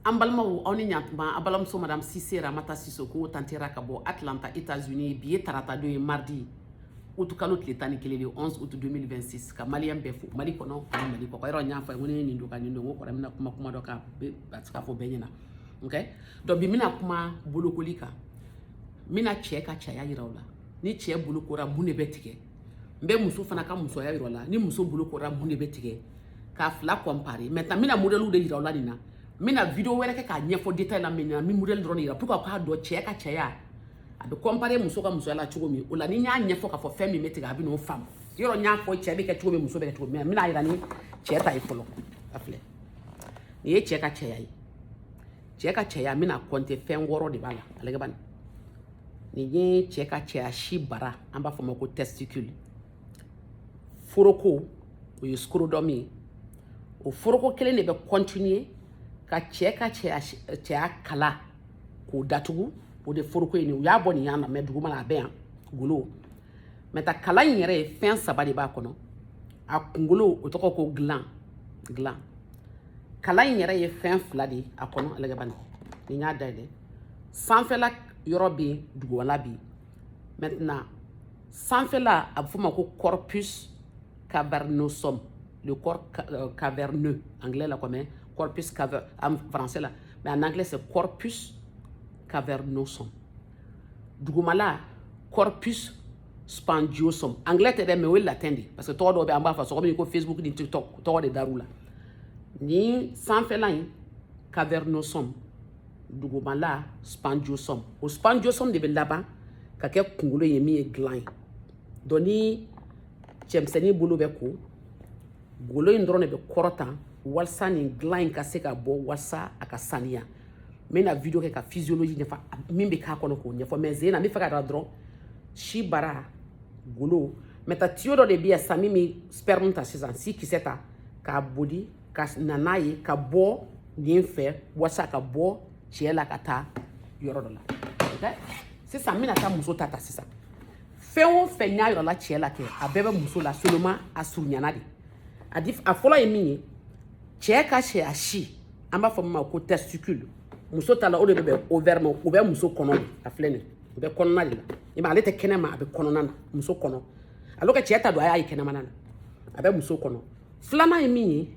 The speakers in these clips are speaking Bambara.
an balimaw aw ni ɲatuma aw balimamuso madame sise ramata sisoko tantera ka bɔ atlanta états-unis bi ye tarata don ye mardi utu kalo tile tan ni kelen le 11 août 2026 ka maliyɛn bɛɛ fo mali kɔnɔ ani mali kɔkan yɔrɔ n y'a fɔ ye ko ne ye nin don ka nin don ko kɔrɔ bɛna kuma kuma dɔ kan a tɛ se ka fɔ bɛɛ ɲɛna ok donc bi n bɛna kuma bolokoli kan n bɛna cɛ ka cɛya yira aw la ni cɛ bolokora mun de bɛ tigɛ n bɛ muso fana ka musoya yira aw la ni muso bolokora mun de bɛ tigɛ k'a fila kɔnpare maintenant n bɛna modɛliw de yira aw la nin na n bɛna video wɛrɛ kɛ k'a ɲɛfɔ detail la min na n bɛ modɛli dɔrɔn de yira pour que aw k'a dɔn cɛ ka cɛya a bɛ kɔnpare muso ka musoya la cogo min o la ni n y'a ɲɛfɔ k'a fɔ fɛn min bɛ tigɛ aw bɛn'o faamu yɔrɔ n y'a fɔ cɛ bɛ kɛ cogo min muso bɛ kɛ cogo min n bɛna yira ni cɛ ta ye fɔlɔ a filɛ nin ye cɛ ka cɛya ye cɛ ka cɛya n bɛna kɔnte fɛn wɔɔrɔ de b'a la a lajɛ bani nin ye cɛ ka cɛya si bara an b'a fɔ ma ko testicule foroko o ye scrotum ye o foroko kelen de bɛ kɔntiniye ka cɛ ka cɛya kala k'o datugu o de foroko ye nin u y'a bɔ nin yan na mais dugumala a bɛ yan golo maintenant kala in yɛrɛ ye fɛn saba de b'a kɔnɔ a kunkolo o tɔgɔ ko gland gland kala in yɛrɛ ye fɛn fila de ye a kɔnɔ a lajɛ bani ni n y'a dayɛlɛ sanfɛla yɔrɔ bɛ yen dugumala bɛ yen maintenant sanfɛla a bɛ f'o ma ko corpus cavernosum le corps euh, caverneux anglais la comme corpus caver en français la mais en anglais c'est corpus cavernosum dugumala corpus spongiosum anglais tɛ dɛ mais o ye latin de ye parce que tɔgɔ dɔw bɛ an b'a fɔ cogo min ko facebook ni tiktok tɔgɔ de dar'u la ni sanfɛla in cavernosum dugumala spongiosum o spongiosum de bɛ laban ka kɛ kunkolo ye min ye gland ye donc ni cɛmisɛnnin bolo bɛ ko golo in dɔrɔn de bɛ kɔrɔta walasa nin gland in ka se ka bɔ walasa a ka saniya n bɛna video kɛ ka physiologie ɲɛfɔ min bɛ k'a kɔnɔ k'o ɲɛfɔ mais sen in na n b'a fɛ k'a dɔn dɔrɔn si bara golo maintenant tiyo dɔ de bɛ yan sisan min bɛ sperme ta sisan si kisɛ ta k'a boli ka na n'a ye ka bɔ nin fɛ walasa ka bɔ cɛ la ka taa yɔrɔ dɔ la sisan n bɛna taa muso ta ta sisan fɛn o fɛn n y'a yira aw la cɛ la kɛ a bɛɛ bɛ muso la seulement a surunyana de a fɔlɔ ye min ye cɛ ka cɛya si an b'a fɔ min ma ko testicule muso ta la o de bɛ bɛn ovaire ma o bɛ muso kɔnɔ de a filɛ nin ye o bɛ kɔnɔna de la i ma ale tɛ kɛnɛma a bɛ kɔnɔna na muso kɔnɔ alors que cɛ ta don aw y'a ye kɛnɛma na a bɛ muso kɔnɔ filanan ye min ye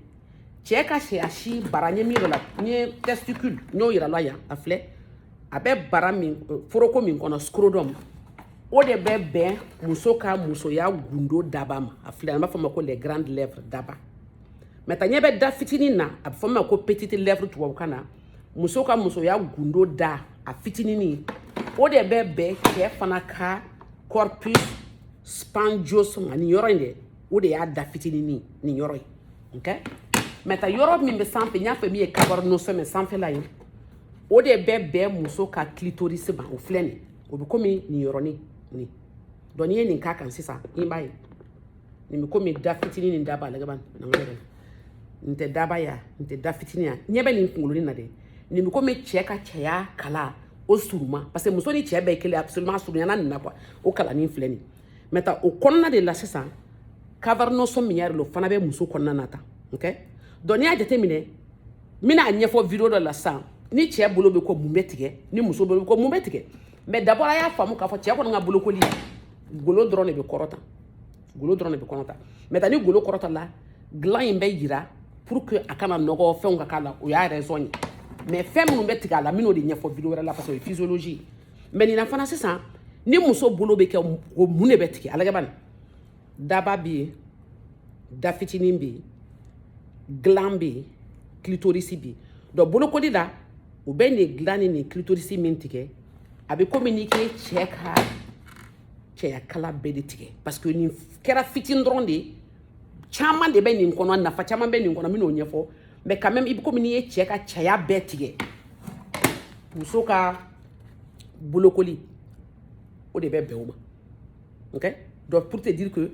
cɛ ka cɛya si bara n ye min yira aw la n ye testicule n y'o yira aw la yan a filɛ a bɛ bara min foroko min kɔnɔ scrotum o de bɛ bɛn muso ka musoya gundo daba ma a filɛ an b'a fɔ o ma ko les grandes lèvres daba maintenant ɲɛ bɛ da fitinin na a bɛ fɔ min ma ko petite lèvre tubabukan na muso ka musoya gundo da a fitinini o de bɛ bɛn cɛ fana ka corpus spongiosum ma nin yɔrɔ in dɛ o de y'a da fitinini nin yɔrɔ ye okay? maintenant yɔrɔ min bɛ sanfɛ n y'a fɛ min ye cavernosum sanfɛla ye o de bɛ bɛn muso ka clitoris ma o filɛ nin o bɛ komi nin yɔrɔnin nin donc n'i ye nin k'a kan sisan i b'a ye nin bɛ komi da fitinin ni daba la kaban na nka yɛrɛ nin tɛ daba ya nin tɛ da fitinin ya ɲɛ bɛ nin kunkoloni na dɛ nin bɛ komi cɛ ka cɛya kala o surunman parce que muso ni cɛ bɛɛ ye kelen absolument surunyana nin na quoi o kalanin filɛ nin maintenant o kɔnɔna de la sisan cavernosum min yira la o fana bɛ muso kɔnɔna na tan ok donc n'i y'a jateminɛ n bɛna a ɲɛfɔ video dɔ la sisan ni cɛ bolo bɛ ko mun bɛ tigɛ ni muso bolo bɛ ko mun bɛ tigɛ mais d'abord a y'a faamu k'a fɔ cɛ kɔni ka bolokoli golo dɔrɔn de bɛ kɔrɔta golo dɔrɔn de bɛ kɔrɔta maintenant ni golo kɔrɔta la gland in bɛ yira pour que a kana nɔgɔ fɛnw ka k'a la o y'a raison ye mais fɛn minnu bɛ tigɛ a la n bɛn'o de ɲɛfɔ video wɛrɛ la parce que o ye physiologie mais nin na fana sisan ni muso bolo bɛ ko mun de bɛ tigɛ a lagɛ bani daba bɛ yen da fitinin bɛ yen gland bɛ yen clitoris bɛ yen donc bolokoli la u bɛ nin de gland ni nin clitoris min tigɛ a bɛ komi n'i ka cɛ ka cɛyakala bɛɛ de tigɛ parce que nin kɛra fitinin dɔrɔn de ye caman de bɛ nin kɔnɔ nafa caman bɛ nin kɔnɔ n bɛn'o ɲɛfɔ mais quand même i bɛ komi n'i ye cɛ ka cɛya bɛɛ tigɛ muso ka bolokoli o de bɛ bɛn o ma ok donc pour te dire que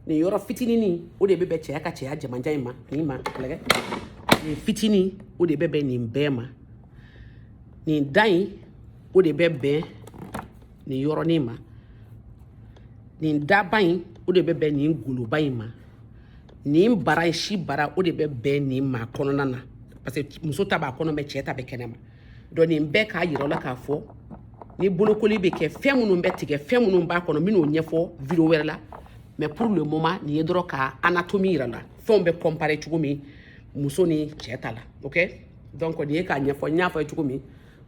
nin yɔrɔ fitinin o de bɛ bɛn cɛya ka cɛya jamanjan in ma nin ma lagɛ nin fitinin o de bɛ bɛn nin bɛɛ ma nin da in o de bɛ bɛn nin yɔrɔnin ma nin daba in o de bɛ bɛn nin goloba in ma nin bara in si bara o de bɛ bɛn nin ma kɔnɔna na parce que muso ta b'a kɔnɔ mais cɛ ta bɛ kɛnɛ ma donc nin bɛɛ k'a yira la k'a fɔ ni bolokoli bɛ kɛ fɛn minnu bɛ tigɛ fɛn minnu b'a kɔnɔ n bɛn'o ɲɛfɔ video wɛrɛ la mais pour le moment nin ye dɔrɔn ka anatomie yira la fɛnw bɛ comparer cogo min muso ni cɛ ta la ok donc nin ye k'a ɲɛfɔ n y'a fɔ ye cogo min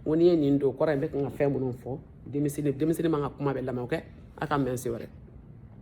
ko n'i ye nin dɔgɔtɔrɔ in bɛ kan ka fɛn minnu fɔ denmisɛnnin man ka kuma bɛɛ lamɛn ok a k'an bɛn siɲɛ wɛrɛ